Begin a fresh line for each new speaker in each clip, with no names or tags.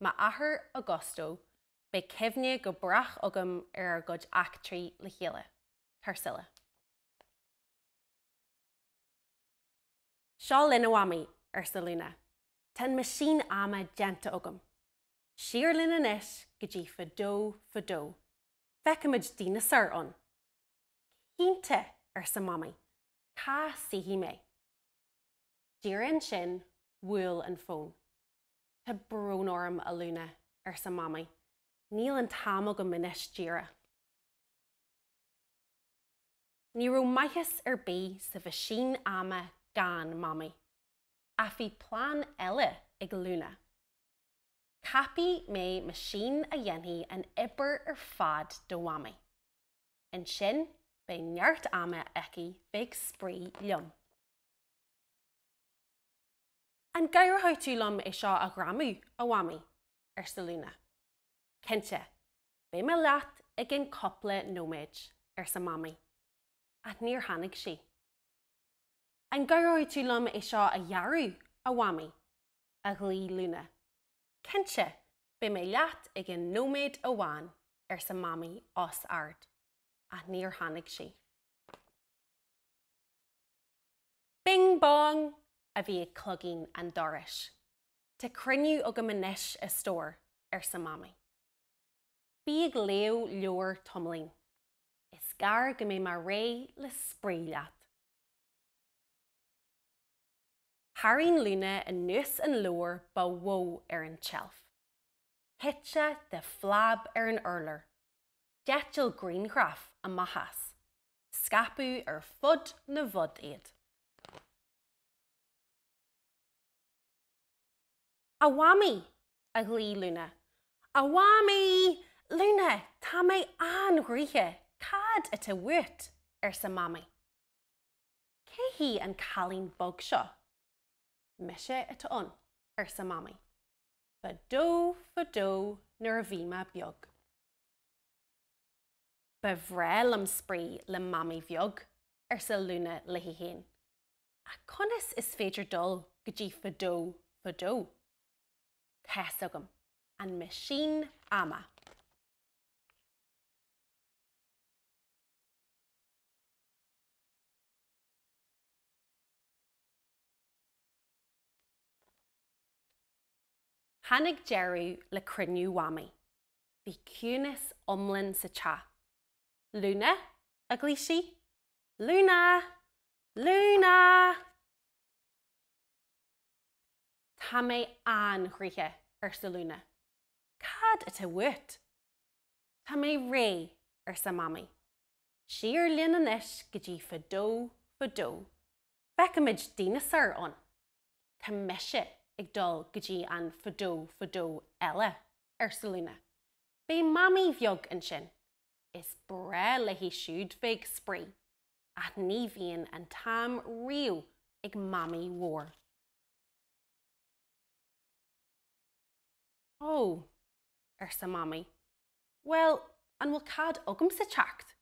m'athair Augusto, beidh cuimhne go brách agam ar ár gcuid eachtraí le chéile. Tarsila. Seo linn, a Mhamaí, arsa Luna. Tá an meaisín ama déanta agam. Siar linn anois go dtí fadó fadó. Feicfimid díneasáir ann. Cinnte, arsa Mamaí. Cá suífidh mé? Díreach ansin, bhuail an fón. Tá brón orm, a Luna, arsa Mamaí. Níl an t-am agam anois díreach. Ní raibh maitheas ar bith sa mheaisín ama gan Mamaí. Ach bhí plean eile ag Luna. Ceapfaidh mé meaisín a dhéanfaidh an obair ar fad do Mhamaí. Ansin beidh neart ama aici bheith ag spraoi liom. An gcabhróidh tú liom é seo a ghreamú, a Mhamaí? arsa Luna. Cinnte, beidh mé leat i gceann cúpla nóiméad, arsa Mamaí, ach níor tháinig sí. An gcabhróidh tú liom é seo a ghearradh, a Mhamaí? a ghlaoigh Luna. Cinnte, beidh mé leat i gceann nóiméad amháin, arsa Mamaí os ard, ach níor tháinig sí. Bing bong! a bhí ag cloigín an dorais. Tá cruinniú agam anois, a stór, arsa Mamaí. Bí ag léamh leabhair tamaillín. Is gearr go mbeidh mé réidh le spraoi leat. Tharraing Luna anuas an leabhar ba mhó ar an tseilf. Thit sé de phlab ar an urlár. D'eitil grianghraif amach as. scaipeadh ar fud na bhfud iad. A Mhamaí! a ghlaoigh Luna. A Mhamaí! Luna, tá mé an-ghnóthach, cad atá uait? arsa Mamaí. Cé hí an cailín beag seo? Mise atá ann, arsa Mamaí. Fadó, fadó, nuair a bhí mé beag. Ba bhreá liom spraoi le Mamaí bheag, arsa Luna léi féin. Ach conas is féidir dul go dtí fadó fadó? Tá's agam. An meaisín ama. Tháinig deireadh le cruinniú Mhamaí. bhí ciúnas iomlán sa teach. Luna? a ghlaoigh sí. Luna! Luna! Tá mé an-ghnóthach, arsa Luna. Cad atá uait? Tá mé réidh, arsa Mamaí. Siar linn anois go dtí fadó fadó. Feicfimid díneasár ann. Tá mise ag dul go dtí an fadó fadó eile, arsa Luna. Beidh Mamaí bheag ansin. Is breá léi siúd bheith ag spraoi, ach ní bhíonn an t-am riamh ag Mamaí mhór. Ó, arsa Mamaí. Bhuel, an bhfuil cead agamsa teacht?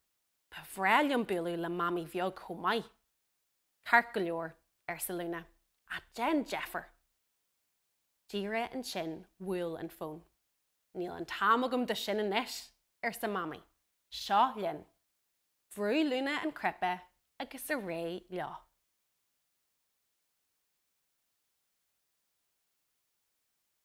Ba bhreá liom bualadh le Mamaí bheag chomh maith. Ceart go leor, arsa Luna, ach déan deifir! Díreach ansin bhuail an fón. Níl an t-am agam do sin anois! arsa Mamaí. Seo linn! Bhrúigh Luna an cnaipe agus ar aghaidh leo.